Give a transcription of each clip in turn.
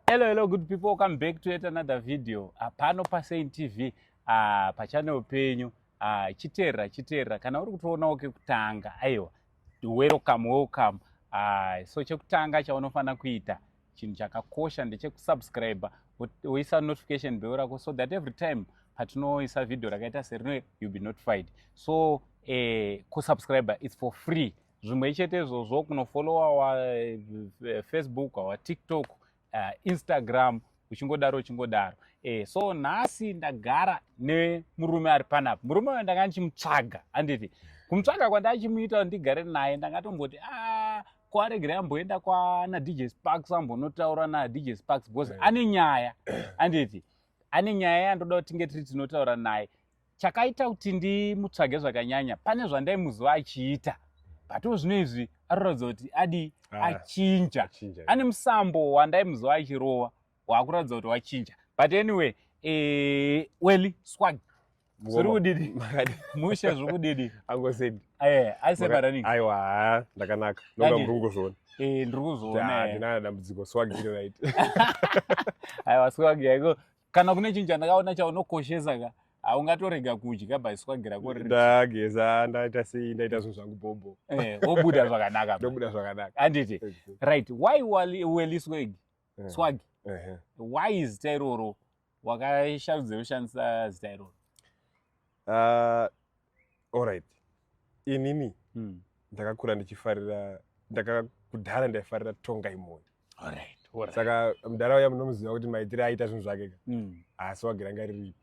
hello hello good people welcome back to yet another video ah, pano pasain tv ah, pachanel penyu ah, chiteerera chiteerera kana uri kutoonawo kekutanga aiwa welcome welcome so chekutanga chaunofanira kuita chinhu chakakosha ndechekusubscribe woisa notification bell rako so that every time patinoisa video rakaita serino you be notified so eh, kusubscribe its for free zvimwe ichete izvozvo kunofolowa wa eh, facebook wa tiktok uh, instagram uchingodaro uchingodaro e, so nhasi ndagara nemurume ari panapa murume uyo ndanga ndichimutsvaga handiti kumutsvaga kwandachimuita kuti ndigare naye ndangatomboti a ah, kwaregera amboenda kwana dj sparks ambonotaura nadj sparks because eh. ane nyaya handiti ane nyaya yandoda kuti tinge tiri tinotaura naye chakaita kuti ndimutsvage zvakanyanya pane zvandaimuziva achiita butwo zvino izvi arikuratidza kuti adi ah, achinja ane musambo wandaimuziva achirova waakuratidza kuti wachinja but anyway eh, weli swag zviri kudidi mushe zviri kudidi angosedi eh, aisebaraning aiwa ndakanaka noga muri kungozviona eh, ndiri kuzviona ndinana dambudziko swag iri right aiwa swag yaiko kana kune chinhu chandakaona chaunokoshesa ka haungatorega kudya baiswagira kondageza ndaita sei ndaita zvinhu zvangu bhobho eh, obuda zvakanaka ndobuda zvakanaka handiti right why weli swag eh. swag why zita iroro wakasharudza ushandisa zita iroro Uh, alright inini mm. ndakakura ndichifarira ndakakudhara ndaifarira tonga imoyo alright saka mudhara uya munomuziva kuti maitire aita zvinhu zvake ka hmm. haasi wagira nga riripi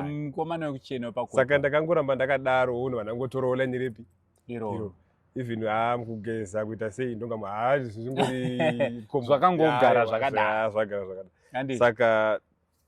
mkomana wekuchena pa saka ndakangoramba ndakadaro unhu vanangotorowola nyerepi iro even haa mukugeza kuita sei ndonga haa zvingori zvakangogara zvakadazvagara zvakada saka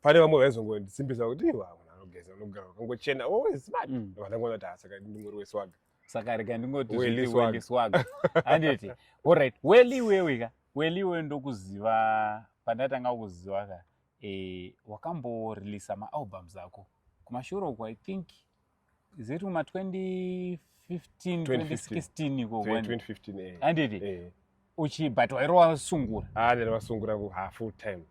pane vamwe vaizongondisimbisa kuti iwa anogeza anogara wakangochena always smart mm. vandangoona kuti asaka ndingori weswaga saka rega ndingoti swaga handiti allright weli iwewe ka weli iwewe ndokuziva pandatanga kuziva ka e, wakamboreleasa maalbums ako kumashure uko i think is it kuma 2015 2016 iko 2015 eh anditi eh uchi but wairova sungura ah ndira vasungura ku half full time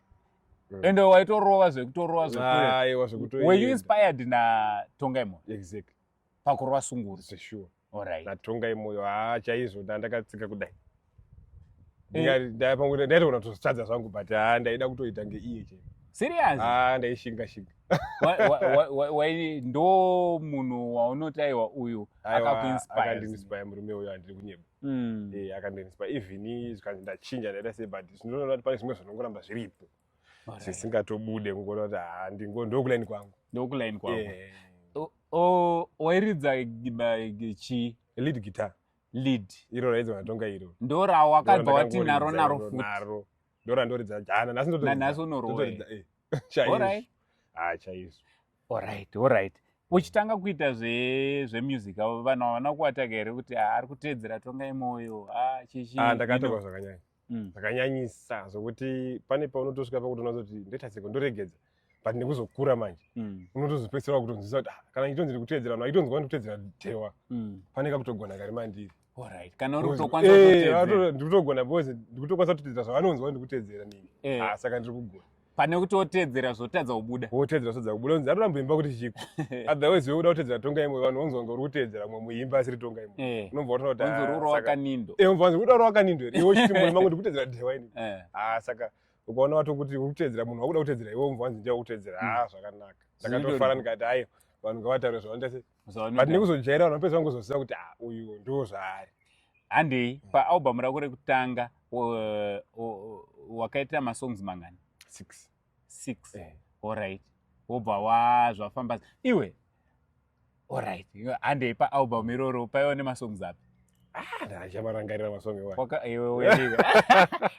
mm. ende waitorova zvekutorova zvekuaiwa zvekutoiwa were you inspired na tonga imo exactly pakurova sungura sure Alright. natongai moyo haa chaizvo nda- ndakatsika kudai Ndinga- nda- pamwe nda- ndaitogona kutozvitadza zvangu but haa ndaida kutoita ngeiye chete Serious? haa ndaishinga shinga Wa- wa- wa- wa- wai- ndo munhu waunotaiwa uyu Aiwa, akakuinspire. akandiinspire murume uyo andiri kunyeba Mm. Eh, akandiinspire even zvikanzi ndachinja ndaita sei but zvinotoona kuti pane zvimwe zvinongoramba zviripo zvisingatobude kungona kuti ha ndingo ndokulaini kwangu ndokulaini kwangu yeah. wairidza chii lead guitar lead iro raidza vanatonga iro ndo rawakabva wati naro naro futnaro ndo randoridza jana nhasi ndotorinhasi unoroaorit eh. ah, chaizvo orit orit uchitanga kuita zvemusic avo vanhu havana kuwataka here kuti ah, ari kuteedzera tonga imoyo ah, chichiandakatoka zvakanyanya mm. zvakanyanyisa mm. zvokuti pane paunotosvika pakuti unazoti ndoita seko ndoregedza but nekuzokura manje mm. unotozopedzisira kutonzwisa kuti ah, kana ndichitonzi ndiri kuteedzera no aitonzwa ndikuteedzera dhewa mm. pane kakutogona kari mandiri eh, ndikutogona because ndikutokwanisa kutoteedzera zvavanonzwa ndikuteedzera nini eh. ah, saka ndiri kugona pane kuti otedzera zvotadza kubuda otedzera zvotadza kubuda unzi atoramba imba kuti chiiko otherwise wekuda kutedzera tonga imwe vanhu unzi wanga uri kutedzera mumwe muimba asiri tonga imwe eh. unobva wataura kuti unzi urura wakanindo eh unzi unzi urura wakanindo here iwe uchiti mumwe mangu ndikutedzera dhewa ini eh. ah saka ukaona wato kuti uri kutedzera munhu wakuda kutedzera iwe unzi wanzi ndiya kutedzera mm. ah zvakanaka ndakatofara ndikati ayo vanhu ngavataure zvavanoita sei but nekuzojaira vanhu vapedza vangozoziva kuti ah, uyu ndo zvaari handei mm. paalbum rako rekutanga wakaita masongs mangani six six eh. allright wobva wa zvafamba iwe allright handei paalbum iroro paiwa nemasongs api Ah, chamarangarira masonge waka iwe uye.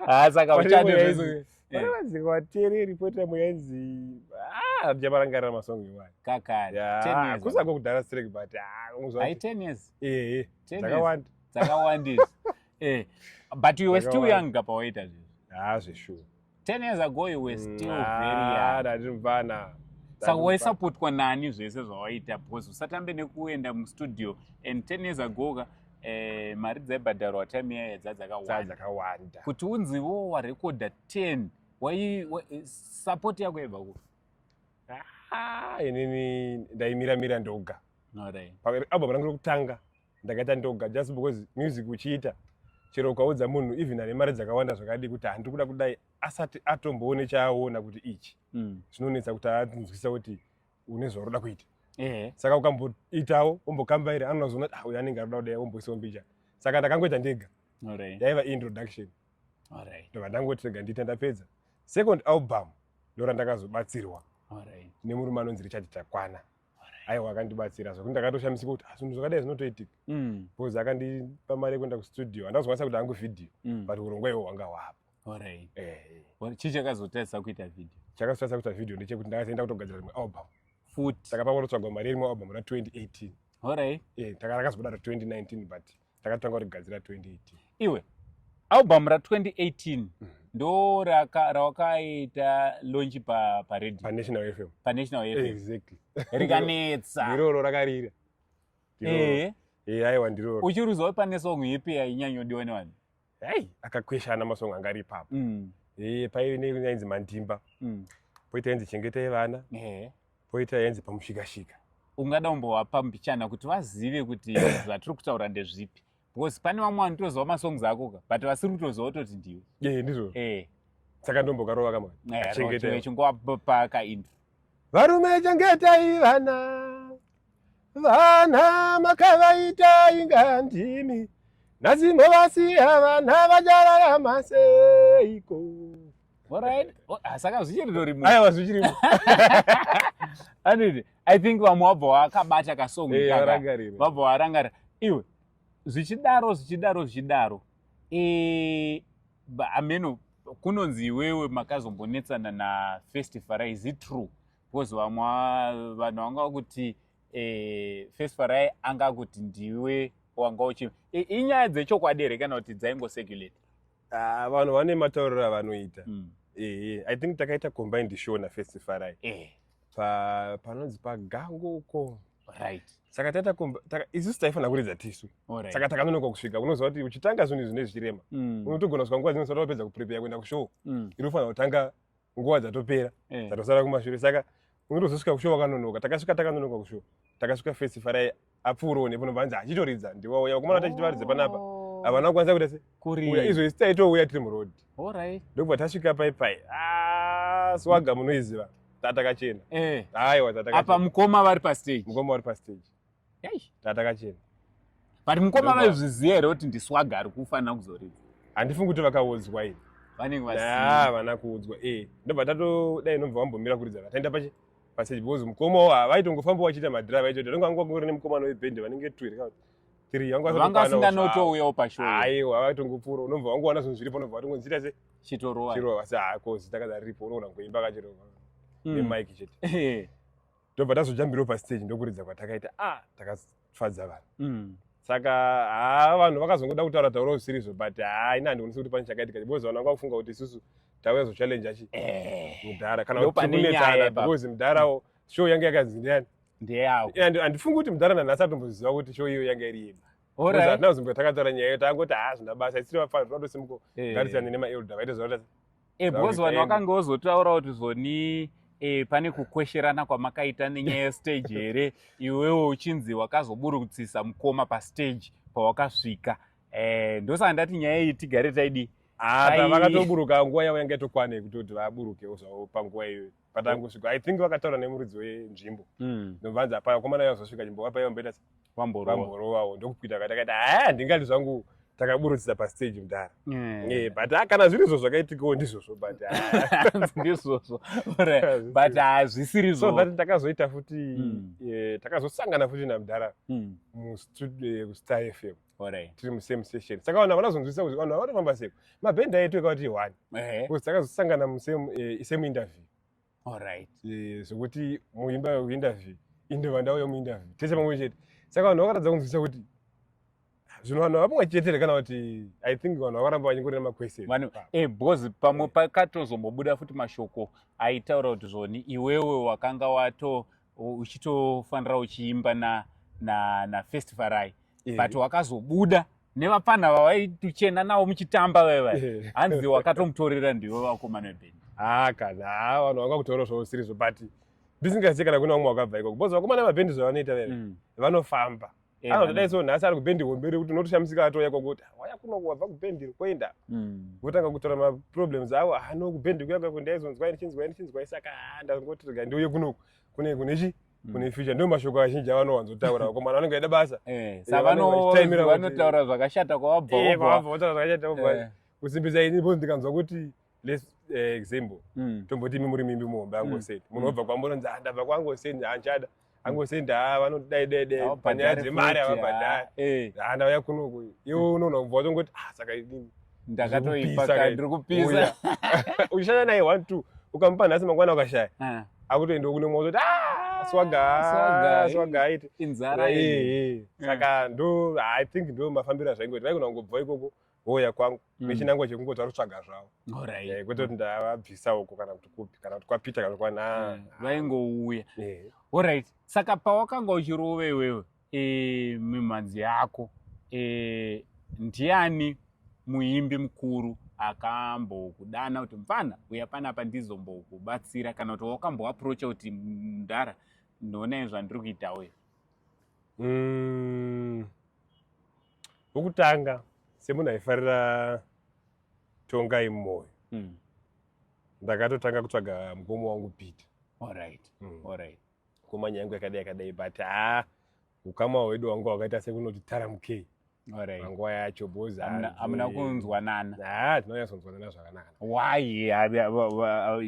Ah, saka uchadi izvo. Wazi kwatiri report yamo yainzi ah chamarangarira masonge waka. Kakari. 10 years. Kusa kokudara strike but ah unozwa. Ai 10 years. Eh eh. Dzakawanda. Dzakawandisa. Eh. But you were still young kapawaita zvinhu. Ah, zveshuwa. 10 years ago you were mm, still ah, very young ndiri mvana saka waisapotwa nani zvese zvawaita because usatambe nekuenda mustudio and 10 years ago ka eh, mari dzaibhadharwa time yaya dzadzakawanda kuti unzi wo warekodha 10 wai support yako yaibva ku ah, inini ndaimira mira ndoga album rangu rokutanga ndakaita ndoga just because music uchiita chero ukaudza munhu even ane mari dzakawanda zvakadii kuti handiri kuda kudai asati atomboone chaaona kuti ichi mm. zvinonetsa kuti anzwisa kuti une zvaroda kuita eh. saka ukamboitawo ombokambairi anozoona kuti ah, uyu anenge aroda kudai omboisa ombicha saka ndakangoita ndega yaiva introduction ndobva ndangoti rega ndiita ndapedza second album ndorandakazobatsirwa nemurume anonzi richard takwana aiwa akandibatsira zvekuti ndakatoshamisika kuti zvinhu zvakadai zvinotoitika mm. bcause akandipa mari yekuenda kustudio handazokwanisa kuti hangu vhidhiyo mm. but urongwa iwo hwanga hwapo eh, eh. chii chakazotaisa kuita vhidhiyo chakazotaisa kuita vhidhiyo ndechekuti ndakazoenda kutogadzira rimwe album futi takapanga kutotsvagwa mari yerimwe album ra 2018 orit eh, takazobudaro 2019 but takatanga kurigadzira 2018 iwe album ra 2018 mm. ndo rawakaita lonchi paredionational fm panational fm exactly rikanetsa iroro rakarira ehe eh. eh, aiwa ndiroro uchiruzawo pane song ipi yainyanyodiwa nevanhu hey akakweshana masong anga ari ipapo mm. e, paive neyainzi mandimba mm. poita yainzi chengetai vana yeah. poita yainzi pamushikashika ungada umbovapa mbichana kuti vazive kuti zvatiri kutaura ndezvipi because pane vamwe vanotoziva masongs akoka but vasiri kutoziva utoti ndiwe e, ndizvo e. saka ndombokarova kamwe eh, chingetaichingovapaka intro varume chengetai vana vana makavaita inga ndimi nhasi movasiya vana vachararama seiko saka zvichirirorimo aiwa zvichirimo anditi i think vamwe vabva wakabata kasongo vabva warangarira iwe zvichidaro zvichidaro zvichidaro eh, ameno kunonzi iwewe makazombonetsana nafestival is it true because vamwe vanhu vanga vakuti eh, first farai anga akuti ndiwe wanga uchi inyaya dzechokwadi here kana kuti dzaingosecurate ah, vanhu vane matauriro avanoita mm. ehe i think takaita combined show nafirst farai eh. panonzi pagango uko right saka taita isusu taifanira kuridza tisu saka takanonoka kusvika unoziva kuti uchitanga zvinhu izvi nezvichirema mm. unotogona kusvika nguva dzinosa tapedza kuprepare kuenda kushow mm. iri ufanira kutanga nguva dzatopera eh. dzatosara kumashure saka unotozosvika kushuwa wakanonoka takasvika takanonoka kushuwa takasvika fesi farai apfuurowo nepo nobva anzi achitoridza ndiwauya vakomana tachiti varidze panapa oh. havana kukwanisa kuita se kuuya izvo isi taitouya tiri muroad ndokubva tasvika pai pai ah, swaga munoiziva tatakachena eh. aiwa tatakapa mukoma vari pastage mukoma vari pastage eish tata kachena but mukoma Ndoba. vaizviziva here kuti ndiswaga ari kufanira kuzoridza handifungi kuti vakaudzwa ini vanenge vasi na vana kuudzwa eh ndobva tato dai nobva wambomira kuridza vataenda pachi paseji because mukoma wo havaitongofamba vachiita madrive acho ndonge vanga vangori nemukomana webhendi vanenge two here kana kuti three vanga vanga vasatokwana wo zvavo. asinganotouyawo pashow aiwa havaitongopfuura unobva wangowana zvinhu zviripo unobva watongonzita se chitorowa chirova asi hako zita kaza riripo unoona kuimba kachirova Mm. nemike chete Eh, ndobva tazojambirawo pastage ndokuridza kwatakaita a ah, takafadza vanhu mm. saka haa vanhu vakazongoda kutaura taura zvisirizo but haa ina handikwanisi kuti pane chakaitika because vanhu vanga kufunga kuti isusu tauya zochallenja chi eh. mudhara kana kutikunetsana because mudharawo show yange yakanzi ndiani ndeyavo handifungi kuti mudhara nanhasi atomboziva kuti show iyo yange iri yedu hatina kuzimbwa takataura nyaya iyo tangoti haa zvina basa isiri vafanira tinotosimuko eh. garisirane nemaelda vaite zvavata e, because vanhu vakange vozotaura kuti zvoni e, pane kukwesherana kwamakaita nenyaya yestage here iwewo uchinzi wakazoburutsisa mukoma pastage pawakasvika e, ndosaka ndati nyaya iyi tigare taidii Ah, vakatoburuka nguva yavo yanga itokwane kutoti vaburukewo zvavo panguva iyoyo patanga kusvika i think vakataura nemuridzi wenzvimbo hmm. ndovanzi hapana komana yavo zvosvika chimbo vapaiva mboita vamborovawo ndokuita kati akaita haa handingati zvangu takaburudzisa pastage mudhara eh. eh, but ah, kana zviri izvo zvakaitikawo ndizvozvo but ah. ndizvozvo but hazvisiri ah, so that takazoita futi hmm. eh, takazosangana futi namudhara hmm. mustar fm tiri musame session saka vanhu vanazonzwisisa kuti vanhu vanofamba sei mabhenda edu ekauti one bcause takazosangana musame interview Alright. Eh, zvekuti muimba yekuinterview inde vandau yemuinterview tese pamwe chete saka vanhu vakaratidza kunzwisisa kuti zvino vanhu vapamwe chete here kana kuti i think vanhu vakaramba vanyingori nemaquestion vanhu e because pamwe pakatozombobuda futi mashoko aitaura kuti zvoni iwewe wakanga wato uchitofanira uchiimba na, na, na first farai yeah. but wakazobuda nevapfanha vavaituchena navo muchitamba vaiva yeah. hanzi wakatomutorera ndivo vakomana vebhendi haa kana haa vanhu vakakutora zvausirizo but ndisingazivi kana kune vamwe wakabva ikoko bcause vakomana vabhendi zvavanoita vaiva mm. vanofamba Eh, anotodai so nhasi ari kubhendi hombe rekuti unotoshamisika atouya kwakuti ah, waya kuno wabva kubhendi koenda hmm. votanga kutora maproblems avo ah, no kubhendi kuya kwako ndaizonzwai ndichinzwai ndichinzwai saka ah, ndangoti rega ndiuye kunoku kune kune chi hmm. kune future ndo mashoko azhinji avanowanzotaura vakomana vanenge vaida basa eh, savanotaura zvakashata kwavabva eh, kwavabva votaura zvakashata kusimbisa ini bcause ndikanzwa kuti let's uh, example mm. tomboti imi muri mimbi muhombe angoseni mm. munhu obva mm. kwambono nzi ndabva kwangoseni hanchada angoseni haa vanodai dai dai panyaya dzemari havabhadhari eh. haa ndauya kunoku iwe mm. unoona kubva watongoti ah saka ndakatoipa ndiri kupisa uchishanda naye one two ukamupa nhasi mangwana ukashaya ah. akutoenda kune mwoto kuti ah, swaga swaga aiti inzara eh, eh. saka ndo i think ndo mafambiro azvaingoita vaikona kungobva ikoko vouya kwangu mm. nechinangwa chekungo tarutsvaga zvavo right. eh, kwete kuti ndavabvisa uko kana kuti kupi kana kuti kwapita kana kwana yeah. Hmm. vaingouya yeah. orit saka pawakanga uchirove iwewe e, eh, mimhanzi yako e, ndiani muimbi mukuru akambokudana kuti mfana uya panapa ndizombokubatsira kana kuti wakamboaprocha kuti mdara ndionai zvandiri kuita uyo mm. wokutanga semunhu aifarira tongai mumwoyo mm. ndakatotanga kutsvaga mukoma wangu peter alright mm. alright mukoma nyaya yangu yakadai yakadai but haa ah, ukama hwedu wangu wakaita sekunoti taramukei panguva yacho boamuna kunzwanana haa tinonyatsonzwanana zvakanaka why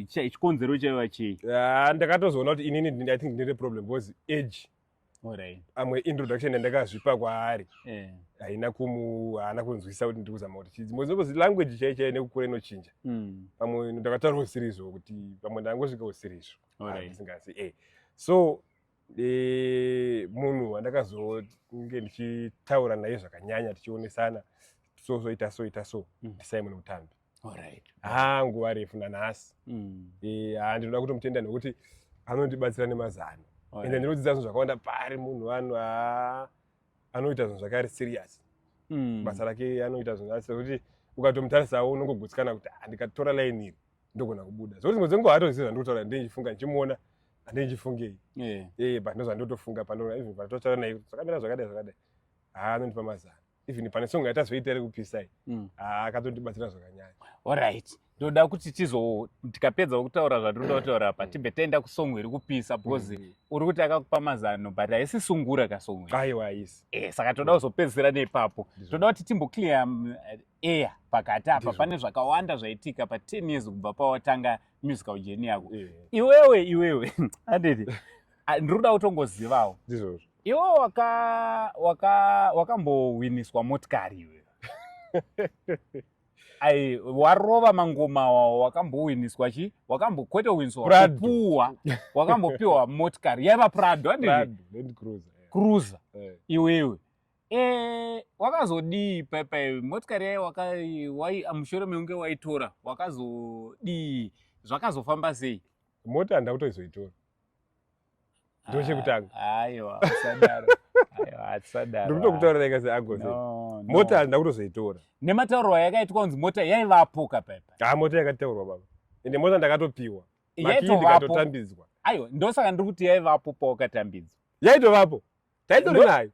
chikonzero chaiva chii ah, ndakatozoona kuti inini i think ndine problem because age Alright. amwe introduction yandakazvipa kwaari Eh. haina kumu haana kunzwisisa kuti ndikuzama kuti chidzi mwe zinobozi language chai chai nekukura inochinja Mm. pamwe ndakataura usirizvo kuti pamwe ndangosvika usirizvo Alright. ndisingazi eh so eh, munhu wandakazonge ndichitaura naye zvakanyanya tichionesana so so ita so ita so Mm. ndisimon mutambi Alright. haa nguva refu nanhasi Mm. Eh, haa ndinoda kutomutenda nekuti anondibatsira nemazano Oh, ende yeah. ndinodzidza zvinhu zvakawanda paari munhu wanu haa anoita zvinhu zvakari serious Mm. basa rake anoita zvinhu asi kuti ukatomutarisa unongogutsikana kuti "Ah, ndikatora line iri ndogona kubuda zvekuti dzimwe dzenguva hatozivi zvandikutaura ndinenge ndichifunga ndichimuona handinenge ndichifungei Yeah. ee but ndozvandotofunga pano even patotaura naye kuti zvakamira zvakadai zvakadai haa anondipa mazano even pane song yatazoita iri kupisa iyi mm. ah, akatondibatsira zvakanyanya orit ndoda kuti tizo tikapedza kutaura zvatinoda kutaura apa mm. tibve taenda kusong iri kupisa because mm. uri kuti akakupa mazano but haisi sungura kasong aiwa haisi eh, saka toda kuzopedzisira neipapo toda kuti timboclear um, air pakati apa pane zvakawanda zvaitika pa 10 years kubva pawatanga musical jeni yako iwewe iwewe anditi ndiri kuda kutongozivawo ndizvozvo Iwo waka waka wakambowiniswa motikari iwe. Ai warova mangoma awo wakambowiniswa chi? Wakambo kwete winiswa Prado. kupuwa. Wakambopiwa motikari yaiva Prado andiri Prado, Land Cruiser. eh. cruiser Eh. iwewe. Eh wakazodii pepa iwe motikari yayo waka wai mushure meunge waitora wakazodii zvakazofamba sei? Mota handakutoizoitora. ndo chekutanga aiwa usadaro ndikutokutaurira ikazi agozi mota handina kutozoitora nemataurwa yakaitwa kunzi mota yaivapo kapaipa ha ah, mota yakataurwa baba ende mota ndakatopiwa makii ndikatotambidzwa aiwa ndosaka ndiri kuti yaivapo pawakatambidzwa yaitovapo taindori nayo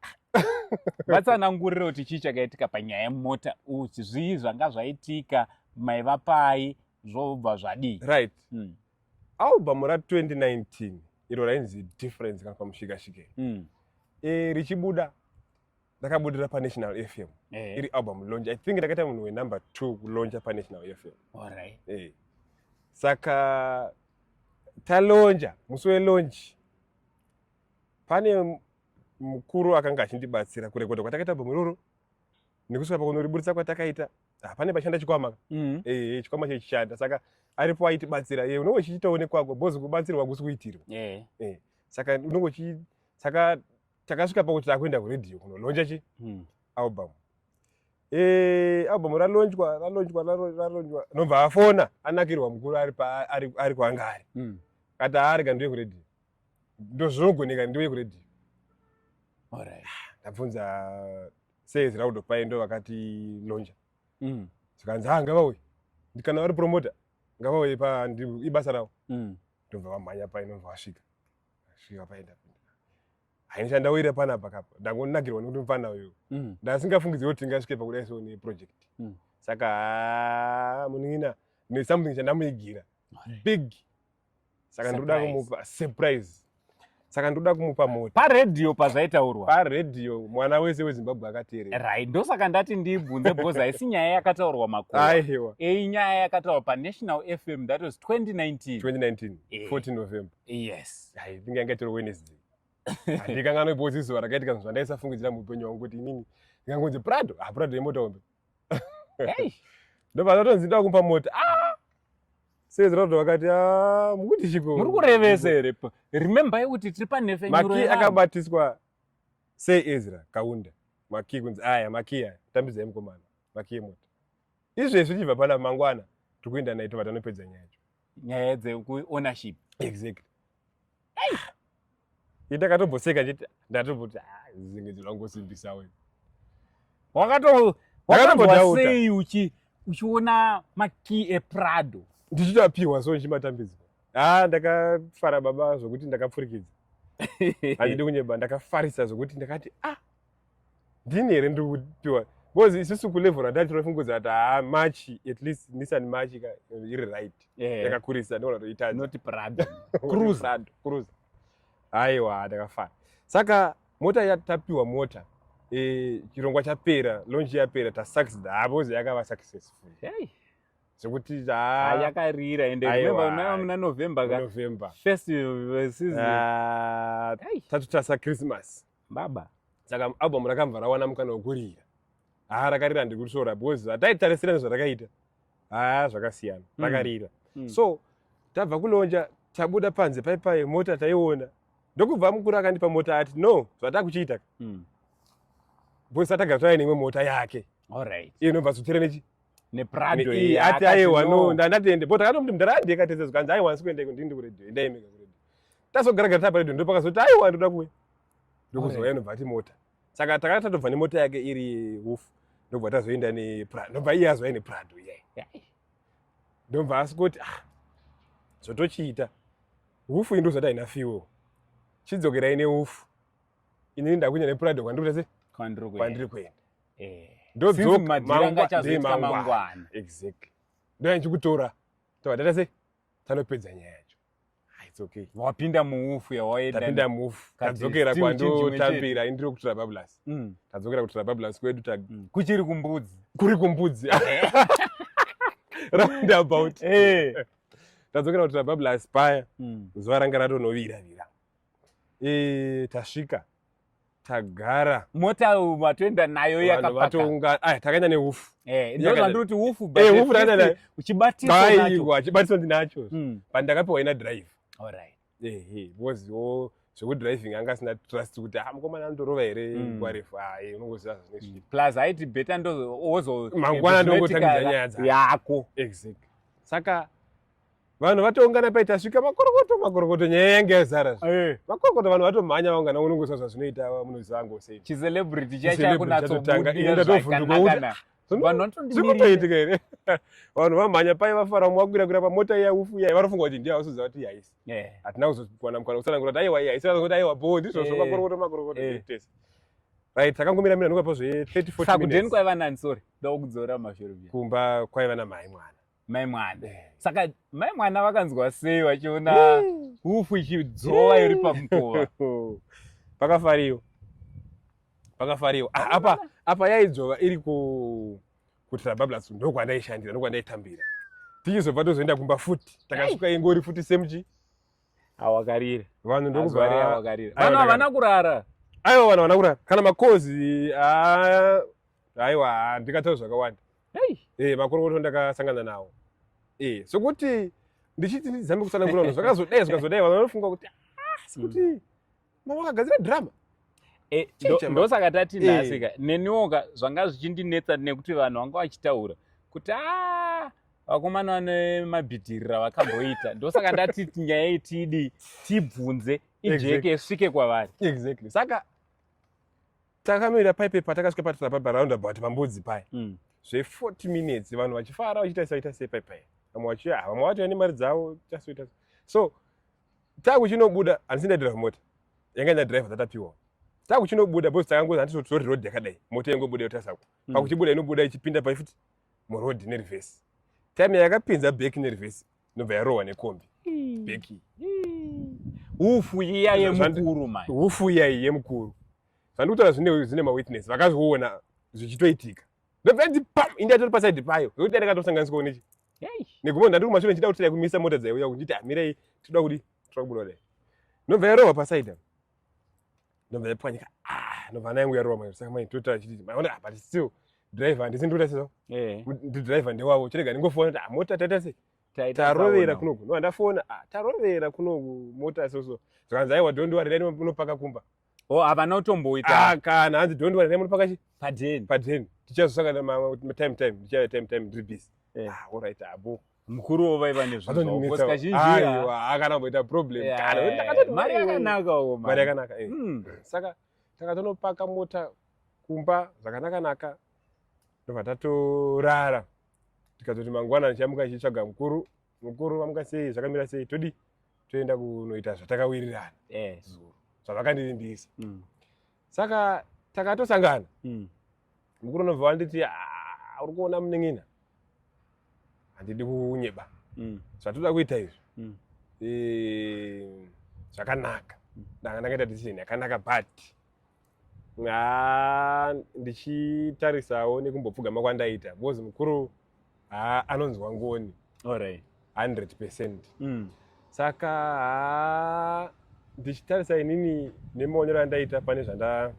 vatsanangurira kuti chii chakaitika panyaya yemota uti zvii zvanga zvaitika maiva pai zvobva zvadii right mm. album ra 2019 iro rainzi difference kana pamushikashike mm. e, richibuda ndakabudira panational f m eh. iri album lonch i think ndakaita munhu wenumber two kuloncha panational f m right. e. saka talonja musi welonchi pane mukuru akanga achindibatsira kurekodha kwatakaita album iroro nekusvika pakunoriburitsa kwatakaita ah, pane pashanda chikwama mm. eh, eh, chikwama chechichanda saka aripo aitibatsira ye eh, unenge uchichitoonekwako bhozi kubatsirwa kusi kuitirwa saka unenge uchi saka takasvika pakuti takuenda kuredio kunolonja chi mm. album album ralonjwa ralonjwa ralonjwa nobva afona anakirwa mukuru ari kwaanga ari mm. kati aari kandiwe kuredio ndozvinogoneka ndiwe kuredio alright ndabvunza sales raudo paye ndo vakati lonja mm. zvikanzi ha ngavauye ndikana vari promota ngavauye pa ibasa ravo mm. ndobva vamhanya paye ndobva vasvika svika paye ndapinda hainisa ndawira pana pakapa ndangonakirwa nekuti mfana uyu mm. ndasingafungidziri kuti tingasvike pakudai so neproject mm. saka munin'ina nesomething chandamuigira big saka ndikuda kumupa surprise saka ndoda kumupa mota paredhiyo pazvaitaurwa paredhiyo mwana wese wezimbabwe akateerera right ndosaka ndati ndibvunze bhozi haisi nyaya yakataurwa makuaiwa eyi nyaya yakataurwa panational fm that was 2019 2019 e. 14 november yes i think yanga tiri wednesday handikanganwe bhozi zuva rakaitika zvinhu zvandaisafungidzira muupenyu wangu kuti inini ngangonzi prado haprado ah, yemota hombe ndobva ndatonzi ndakumpa mota ah! sei zira kuti vakati ah, mukuti chiko muri kurevesa here remember yekuti tiri panhefenyuromakii akabatiswa sei ezra kaunda makii kunzi aya makii aya tambidzai mukomana makii mota izvezvi tichibva pana mangwana tiri kuenda naye tobva tanopedza nyaya yacho nyaya dzekuownership exactly ndakatomboseka chete ndatomboti ah, zinge ndinongosimbisa we wakatombodautasei uchiona makey eprado ndichitoapiwa so ndichimatambidzwa ha ah, ndakafara baba zvokuti ndakapfurikidza handidi kunyeba ndakafarisa zvokuti ndakati ah ndini here ndiri kupiwa because isusu kulevel randati tinofunguza kuti haa march at least nissan march iri right eh. yakakurisa ndinoona kuti itadzinoti prado cruzado cruza haiwa ndakafana saka mota yatapiwa mota e, chirongwa chapera lonji yapera tasucced havo zayakava successful hey zvekuti yakarira ende remember maiva muna november ka november first uh, season ah, tatotasa christmas baba saka album rakabva rawana mukana wekurira haa rakarira handiri kurisvora because hataitarisira nezvarakaita haa zvakasiyana mm. rakarira mm. mm. so tabva kunonja tabuda panze paipai mota taiona ndokubva mukuru akandipa mota ati no zvataa kuchiita mm. because atagara tava neimwe mota yake alright iyo inobva zotera nechi neprado ati aiwa no ndandatende but akatomuti mdara andiyekatezezwa kanzi aiwa nsi kuendeko ndindi kuredio endaimeka tazogara gara taparedio ndo pakazoti aiwa ndoda kuuya ndokuzouya nobva ati mota saka takati tatobva nemota yake iri hufu ndobva tazoenda neprado ndobva iye azouya neprado iyai ndobva asi kuti ah zvotochiita hufu indo zvati haina fuel chidzokera ine hufu inini ndakunya neprado kwandiri kuti kwandiri kuenda eh. ndodzoka mangwana exactly ndoya ndichikutora tobva tata se tanopedza nyaya yacho Ah, it's okay wapinda muufu yawaenda tapinda mufu Kati, tadzokera still chinhu chimwe chete. kwandotambira indiri kutura bablas Mm, tadzokera kutura bablas kwedu ta- mm. kuchiri kumbudzi kuri kumbudzi roundabout Eh. tadzokera kutura bablas paya Mm, zuva ranga ratonoviravira Eh, tasvika tagara mota matoenda nayo yakapaka takaenda neufu eh, ndozvandiri ufu eh, uchibatiswa chibatiswa ndinacho hmm. pandakapiwa ina drive because yo zvekudriving anga asina trust kuti ah, mukomana anotorova here hmm. nguva refu ah, eh, unongoziva hmm. plus aiti beta ndozomangwana ndongotangidza nyaya dzako saka vanhu vatoungana paitasvika makorokoto makorokoto nyaya yange yazara eh. makorokoto vanhu vatomhanya vaungana unongoziva zvazvinoita munoziva angu sei chicelebrity chaichakunatsobudiakunatsovhunduka zvinotoitika here vanhu vamhanya pai vafara mwe vakwirakwira pamota iya ufu iya varofunga kuti ndiya vasuziva kuti ihaisi eh. hatina kuzowana mukana kusanangura kuti aiwa ihaisi vazoti aiwa boo ndizvozvo eh. makorokoto makorokoto tese right takangomira mira nokapa zve 30 40 minutes sakudeni kwaiva nani sorry ndakudzora mashoro kumba kwaiva namhai mwana mai mwana eh. saka mai mwana vakanzwa sei vachiona hufu ichidzova iri pamukova pakafariwa pakafariwa ah, apa apa yaidzova iri ku kutrabablas ndokwandaishandira ndokwandaitambira tichizobva tozoenda kumba futi takasuka ingori futi semchi awakarira vanhu ndokuvakarira vanhu havana kurara aiwa vanhu havana kurara kana makozi ah, aiwa handikataura zvakawanda eh makorokoto ndakasangana nawo eh sokuti ndichiti ndizame kutsanangura vanhu zvakazodai zvakazodai vanhu vanofunga kuti ah sokuti mm. mama wakagadzira drama eh, ndosaka tati eh. nhasika neniwoka zvanga zvichindinetsa nekuti vanhu vanga vachitaura kuti a ah, vakomana vane mabhidirira vakamboita ndosaka ndati nyaya iyi tiidi tibvunze ijeke svike kwavari exactly saka takamira paipe patakasvika patira paipa roundabout pambudzi paya mm. zve 40 minutes vanhu vachifara vachitarisa vaita sei paipa vamwe vachiya ah, vamwe vatoya nemari dzavo tasoita so takuchinobuda handisi ndaidriva mota yanga ndadriva dzatapiwa takuchinobuda bcause takangoza handiti totori road yakadai mota yangobuda yotasako mm. pakuchibuda inobuda ichipinda paifuti muroad nerivhesi time yakapinza beki nerivhesi inobva yarohwa nekombi beki hufu iya yemukuru mai hufu iya yemukuru zvandikutaura zvine zvine mawitness vakazviona zvichitoitika ndobva ndi pam indi atori paside payo zvekuti dai ndakatosanganiswa nechi negumbo ndandiri kumashure ndichida kuti dai kumisa mota dzaiuya kuti nditi hamirei tinoda kuti tinoda kubuda dai ndobva yarova paside ndobva yapwanyika ah, ndobva nayangu yarova mai saka mai totaura chiti maona ah, but still driver handisi ndikuita seso eh. ndi driver ndewavo chirega ndingofona kuti ah, mota taita sei tarovera kunoku no handafona tarovera kunoku mota soso zvakanzi aiwa don't worry dai unopaka kumba oh havana kutomboita ah, kana hanzi don't worry nemuri pakachi padeni padeni tichazosangana mamwe time time ndichave time time ndiri busy eh. ah all right abo mukuru wo vaiva nezvakana kumboita problem mari yakanaka uko mari yakanaka eh. hmm. saka takatonopaka mota kumba zvakanaka naka ndobva tatorara tikazoti mangwana ndichamuka ndichitsvaga mukuru mukuru vamuka sei zvakamira sei todi toenda kunoita zvatakawirirana eh. zuro zvavakandirimbisa mm. saka takatosangana mm. mukuru unobva wanditi ah, uri kuona munin'ina handidi kunyeba mm. zvatoda kuita izvi mm. e, zvakanaka mm. ndanga ndakaita decision yakanaka but ndichitarisawo nekumbopfugama kwandaita because mukuru haa anonzwa ngoni alright 100 percent mm. saka haa ndichitarisa inini nemaonero andaita pane zvanda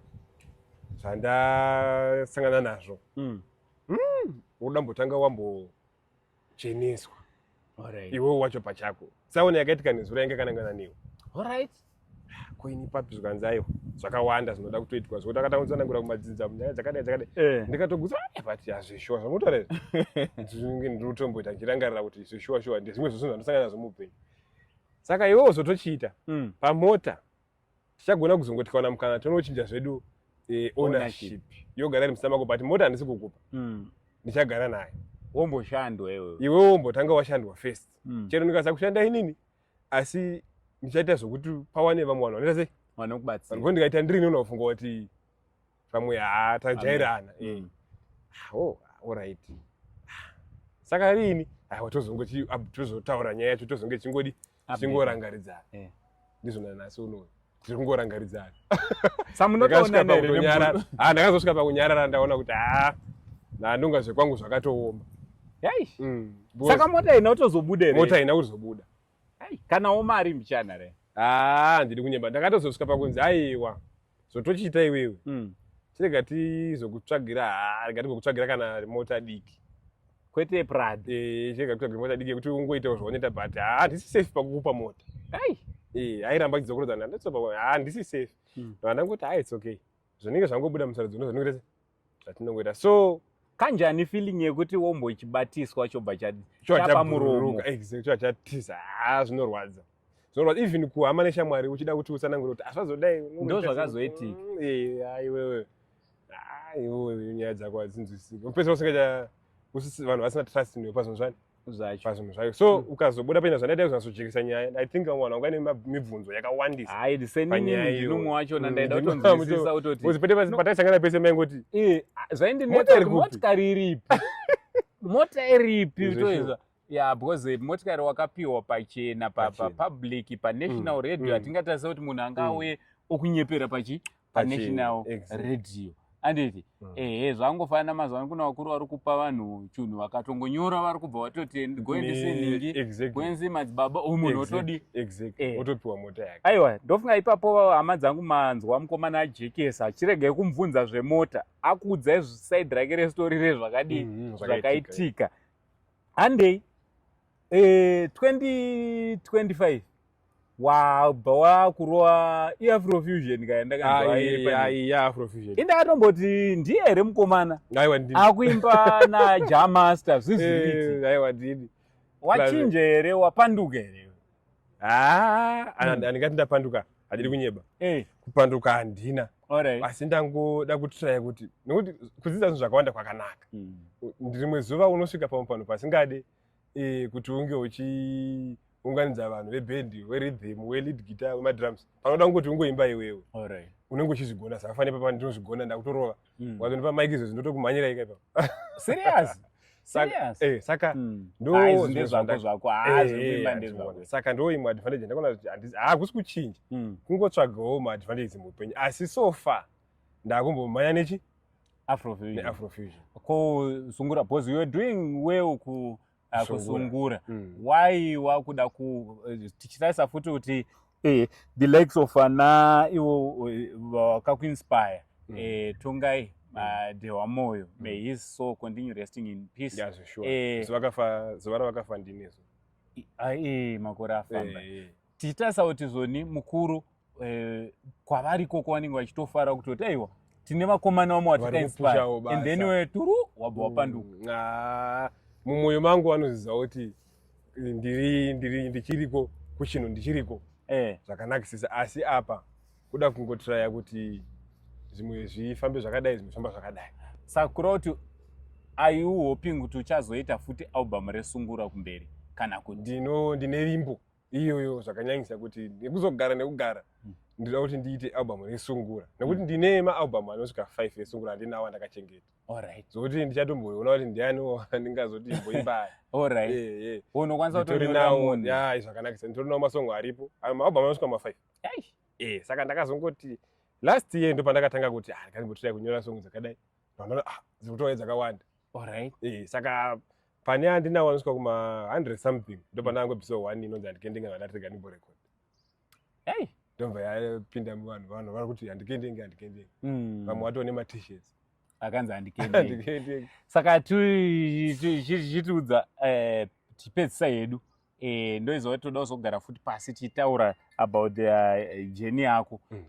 zvandasangana nazvo mm. mm. unoda mbotanga wambocheneswa Alright. iwewo wacho pachako tsaona yakaitika nezuro yange kanangana newe Alright. koini papi zvikanzi aiwa zvakawanda zvinoda kutoitwa zvekuti akatanga kutsanangura kumadzinza munyaya dzakadai dzakadai Eh. ndikatogutsa "Eh, but hazvishuwa zvamutora izvi ndinenge ndiri kutomboita ndichirangarira kuti zvishuwa shuwa ndezvimwe zvozvinhu zvandosangana nazvo muupenyu saka iwewo zvotochiita Mm. pamota tichagona kuzongoti kaona mukana tonochinja zvedu eh, ownership yogara iri musina mako but mota handisi kukupa mm. ndichagara naye womboshandwa iwewe iwewe wombotanga washandwa first mm. chero ndikaza kushanda inini asi ndichaita zvokuti pawane vamwe vanhu vanoita sei vanokubatsira ndikaita ndirini unofunga kuti pamwe haa tajairana eh. mm. ah, oh, orit ah, saka riini aiwa tozongoti tozotaura nyaya yacho tozonge chingodi chingorangaridzana eh. ndizvona nasi unoona tiri kungorangaridzana samunotoonanekunyarara ah, ndakazosvika pakunyarara ndaona kuti haa nandonga zvekwangu zvakatooma mm, saka mota ina utozobuda mota ina kuzobuda kanawo mari mbichana re haa ah, ndiri kunyeba ndakatozosvika pakunzi aiwa zvotochiita iwewe mm. chirega tizokutsvagira haa ah, rega tigokutsvagira kana mota diki kwete prad eh, chirega kutsvagira mota diki yekuti ungoitawo zvaunoita but haa ah, handisi safe pakukupa mota ai eh, airamba chidzokorodzana handisi safe mm. ndandangoti haa it's okay zvinenge zvangobuda musarudzo ndozvinenge zvatinongoita so kanjani feeling yekuti wombo chibatiswa chobva chapa muromo exactly chobva chatiza ha ah, zvinorwadza zvinorwadza even kuhama neshamwari uchida kuti usanangure kuti asvazodai ah, ndo zvakazoitika mm, eh, ah, iwewe iwewe nyaya dzako hadzinzwisiki pese usingacha vanhu vasina trust newe pazvinhu zvani zvacho pazvinhu zvayo so hmm. ukazobuda paina zvandaita kuzonasojekesa nyaya i think vamwe vanhu vanga nemibvunzo yakawandisa hai ndiseninumwe wacho nandaida hmm. kutonzwisisa kutoti pataisangana pese maingoti eh, zvaindinetsamotikari iripi mota iripi toizwa ya because eh, motikari wakapiwa pachena papublic panational hmm. radio hatingatarisa kuti munhu anga auye okunyepera pachi panational radio anditi mm. ehe zvangofanana mazuva ano kuna vakuru vari kupa vanhu chinhu vakatongonyora vari kubva vatoti goendese nhingi goenzi madzibaba u munhu otodi eh. otopiwa mota yake aiwa ndofunga ipapo hama dzangu manzwa mukomana ajekesa achiregai kumubvunza zvemota akuudzai saidi rake restori rezvakadii mm, mm, zvakaitika handei eh, 2025 wabva wakurova iafrofusion kaya ndakanzwaiafrofusion ah, indakatomboti ndiye here mukomana akuimba naja master zviziiti aiwa ndini wachinje here wapanduka here ah, hmm. andingati ndapanduka handiri hmm. kunyeba eh. kupanduka handina asi ndangoda kutraya kuti nekuti kudzidza zvinhu zvakawanda kwakanaka hmm. ndirimwe zuva unosvika pamwe panhu pasingade eh, kuti unge uchiunganidza vanhu vebhendi weridhim welead guitar wemadrums panoda kungoti ungoimba iwewe right. unenge uchizvigona saka fanire papa ndinozvigona ndakutorova mm. wazondipa mike izvezvi ndotokumhanyira ika ipa serious Eh, saka hmm. ndozvandosaka eh, ndoimwe advantage ndakaona kuti hakusi kuchinja hmm. kungotsvagawo maadvantage muupenyu asi so far ndakumbomhanya nechi afrofusion neafrofusion ko sungura because you're doing well ku uh, kusungura mm. why wakuda ku eh, tichitarisa futi kuti eh, the likes of ana ivo eh, vakakuinspire mm. eh, tongai mm. ah, dehwa moyo mm. may his soul continue resting in peace yes, sure. eh, zivakafa zivara vakafa ndinezo ah, eh, makore afamba eh, eh. tichitarisa kuti zoni mukuru eh, kwavari ikoko vanenge vachitofara kutoti aiwa tine vakomana vamwe vatikainspire and then we turu wabva wapanduka mm, ah, mumwoyo mangu vanoziva kuti eh, ndiri ndiri ndichiriko kuchino ndichiriko eh. zvakanakisisa asi apa kuda kungotiraya kuti zvimwe zvifambe zvakadai zvimwe zvifamba zvakadai sakura kuti aiu hoping kuti uchazoita futi album resungura kumberi kana kuti ndino ndine vimbo iyoyo zvakanyanyisa kuti nekuzogara nekugara hmm. ndinoda kuti ndiite album resungura nekuti hmm. ndine maalbum anosvika five esungura handinawo andakachengeta zokuti ndichatomboona kuti ndianiwo andingazoti imboimba aya zvakanakisa nditorinawo masongo aripo maalbum anosvika mafive eh, saka ndakazongoti last year ndo pandakatanga kuti ah, ndikazimbotirai kunyora songo dzakadai ah, dzikutouya dzakawanda eh, saka pane andina waniswa kuma 100 something ndopandango mm. episode 1 inonzi andikendenge vandatirega ndimbo record hey ndobva yapinda muvanhu vanhu vari kuti andikendenge andikendenge mm. vamwe watone ma t-shirts akanzi andikendenge saka chitiudza eh, tipedzisa yedu eh, ndoizova toda kuzogara futi pasi tichitaura about the eh, jeni yako mm.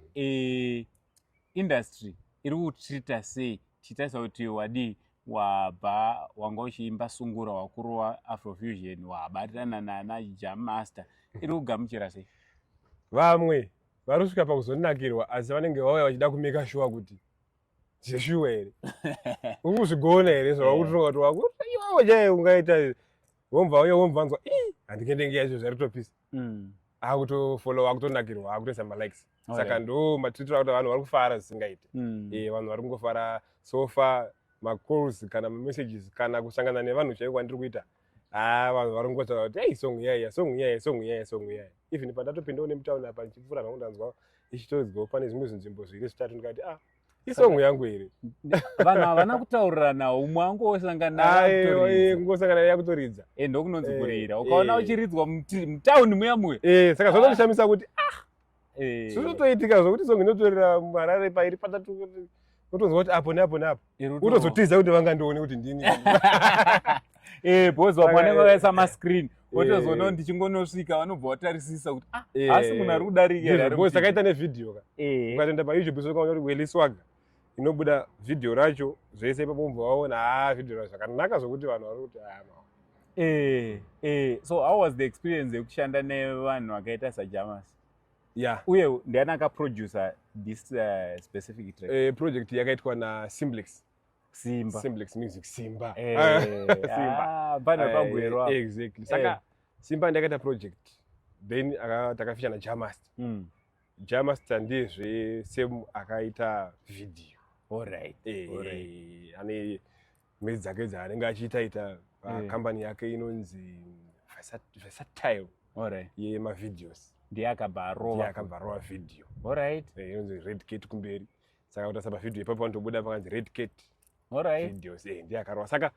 industry iri kutreata sei tichitarisa kuti wadii wabva wanga uchiimba sungura wakurowa afrofusion wabatirana nana jam master iri kugamuchira sei vamwe vari kusvika pakuzonakirwa asi vanenge vauya vachida kumeka shuwa kuti zveshuwa here ukuzvigona here zvavakutonga kuti wakuiwawo chaiye ungaita womva uye womva anzwa i handikendenge yacho zvaritopisa mm. akutofollowa akutonakirwa akutoisa malikes okay. saka ndo matitoita kuti vanhu vari kufara zvisingaite mm. e, vanhu vari kungofara sofa macalls kana mamessages kana kusangana nevanhu chaiko kwandiri kuita haa ah, vanhu vari kungotaura kuti ei song iyaiya song iyaiya song iyaiya song iyaiya even pandatopindawo nemutauni apa ndichipfuura zvangu ndanzwa ichitoridzwawo pane zvimwe zvinzvimbo zviri zvitatu ndikati ah isongo yangu here vanhu havana kutaurirana umwe angosanganaangosangana eh, yakutoridza e eh, ndokunonzi eh, kurira ukaona uchiridzwa mutauni muya muya saka zvanondishamisa ah. kuti ah eh. zvinotoitika zvokuti songe inotorera marare pairi patatu unotonzwa kuti apo neapo neapo unotozotiza kuti vangandione kuti ndini eh, bhozi vamwe vanenge vakaisa mascreen wotozoona eh. ndichingonosvika vanobva vatarisisa kuti ah, eh. asi munhu ari kudarikabhozi takaita nevhidhiyo ka ukatoenda payoutube sokaona kuti weliswaga inobuda video racho zvese ipapo mubva vaona haa ah, video racho zvakanaka zvokuti vanhu vari kuti haa ah, eh, eh. so how was the experience yekushanda nevanhu vakaita sajamas yeah. uye ndiani akaproducer this uh, specific track eh, project yakaitwa nasimblex simba simblex music simba eh, ah, simba ah, bana eh, pagwerwa exactly saka eh. simba ndakaita project then takafishana jamast mm. Jamasta ndezve same akaita video. Alright. Eh, Alright. ane mhedzi dzake dzaanenge achiita ita Eh. kambani yake inonzi Versat- Versatile Alright. yemavideos. Ndiye akabva Ndiye arova. akabva arova video. Alright. Eh, inonzi Red Cat kumberi. Saka utasaba video ipapo vanotobuda pakanzi Red Cat Alright. videos. Eh, ndiye akarova. Saka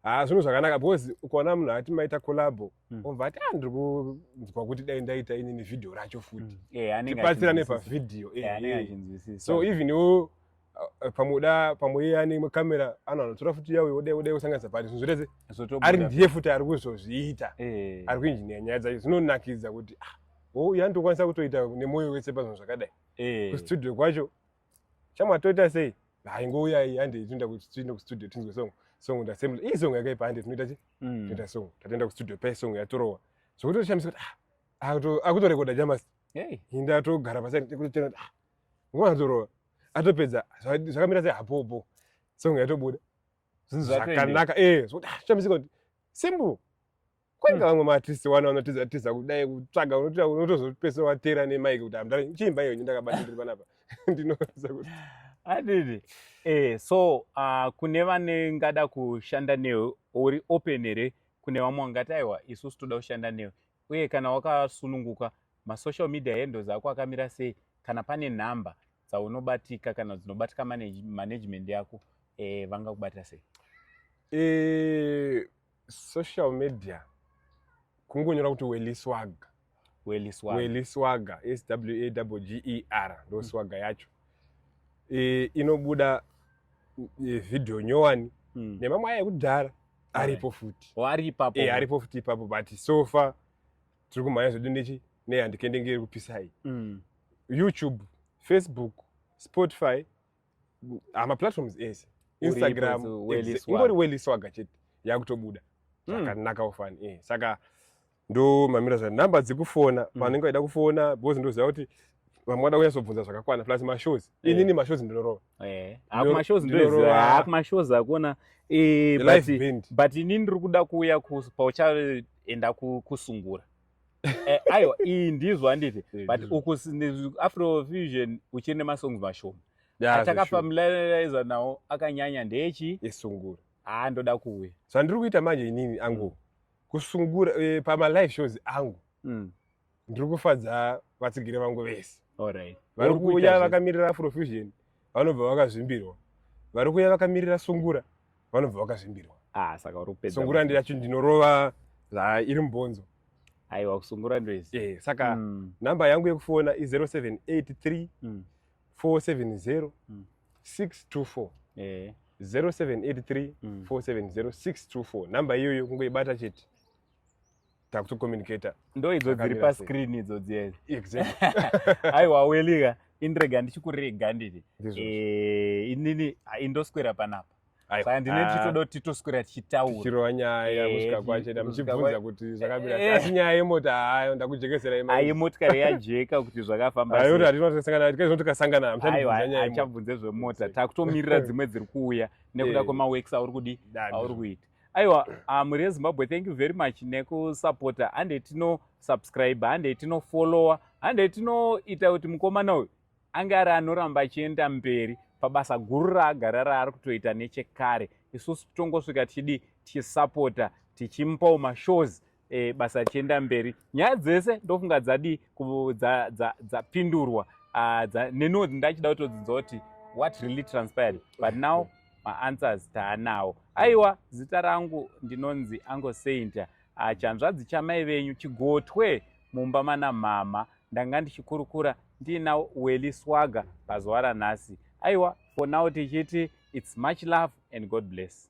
haa ah, zvinhu zvakanaka because ukaona munhu ati maita collabo mm. obva ati a ah, ndiri kunzwa kuti dai ndaita inini vhidhiyo racho futi mm. yeah, tibatsira nepavhidhiyo yeah, yeah. so even iwo eh, pamuda pamwe iye ane kamera ano anotora futi yawe odai odai kusanganisa pati zvinhu zvirese ari ndiye futi ari kuzozviita eh. ari kuinjiniya nyaya dzacho zvinonakidza kuti ah, o iye anotokwanisa kutoita nemwoyo wese pazvinhu zvakadai eh. kustudio kwacho shamwa toita sei hayi ngouya iyi hande tinoenda tinoenda kustudio tinzwe song song ndasemble iyi song yakaipa hande tinoita chi mm. tinoita song tatoenda kustudio pe song yatorowa zvokutoshamisa kuti ah, akutorekoda jamas hinda atogara pasi kutotenda ah, nguva yatorowa atopedza zvakamira sei hapopo song yatobuda zvakanaka e eh, zvokutoshamisa kuti simple kwenge vamwe maartist wana vanotiza tiza kudai kutsvaga unotoita unotozopesa watera nemike kuti amdara chiimba iyo ndakabata ndiri panapa ndinoza kuti adidi eh so uh, kune vane ngada kushanda newe uri open here kune vamwe wangati aiwa isusu toda kushanda newe uye kana wakasununguka masocial media handles ako akamira sei kana pane nhamba dzaunobatika kana dzinobatika management yako eh, vangakubata sei eh, social media kungonyora kuti weliswag weliswag weliswag s w a w g e r ndo swag mm. yacho e, inobuda e, video nyowani mm. nemamwe aya ekudhara aripo futi oh, ari ipapo e, aripo futi ipapo but so far tiri kumhanya zvedu nechi nehandikendengeri kupisai mm. youtube facebook spotify ah, maplatforms ese instagram ingori weliswaga chete yakutobuda hmm. zvakanaka mm. ufani eh, saka ndo mamira zva number dzekufona mm. vanenge vaida kufona because ndoziva kuti vamwe vada kunyasobvunza zvakakwana plus mashows yeah. inini mashows ndinorova eh, akumashows ndinorova akumashows akuona eh, but ini ndiri kuda kuuya pauchaenda kusungura Eh, aiwa iyi ndizvo handiti eh, but uku afrofusion uchiri nemasongs mashoma atakafamiliariza nawo akanyanya ndechi esungura haa ndoda kuuya zvandiri kuita manje inini angu mm. kusungura eh, pamalive shows angu mm. ndiri kufadza vatsigiri vangu vese vari kuuya vakamirira afrofusion vanobva vakazvimbirwa vari kuya vakamirira sungura vanobva vakazvimbirwa ah, saka uri kupedza sungura ndiyacho ndinorova zvairi mubhonzo aiwa kusungura ndoizi e, saka mm. namba yangu yekufona i0783 mm. 470 mm. 624 e. 0783 mm. 470 624 namba iyoyo kungoibata chete takutokomunicator ndoidzo dziri pascreen idzo dziyezi aiwa welika indirega ndichikurega nditi eh, inini indoswera panapa saka ndine ah. tichitoda kuti titoswera tichitaura tichirova nyaya eh, kusvika kwacho da muchibvunza kuti zvakamira eh. asi nyaya yemota hayo ndakujekesera imai ayi motikari yajeka kuti zvakafamba ayo kuti hatinotasangana kuti kaizvo tikasangana hamuchabvunza zvemota takutomirira dzimwe dziri kuuya nekuda kwemaworks auri kudi auri kuita aiwa ah, mhuri yezimbabwe thank you very much nekusapota hande tinosubscribe hande tinofollowa hande tinoita kuti mukomana uyu ange ari anoramba achienda mberi pabasa guru raagara raari kutoita nechekare isusu tongosvika tichidii tichisapota tichimupawo mashows e, basa richienda mberi nyaya dzese ndofunga dzadii dzapindurwa ah, neniwo ndachida kutodzinza kuti what really transpired but now maanswers taanawo aiwa zita rangu ndinonzi ango sainta ah, chanzvadzi chamai venyu chigotwe mumba mana mhamha ndanga ndichikurukura ndiina weli swaga pazuva ranhasi aiwa for now tichiti its much love and god bless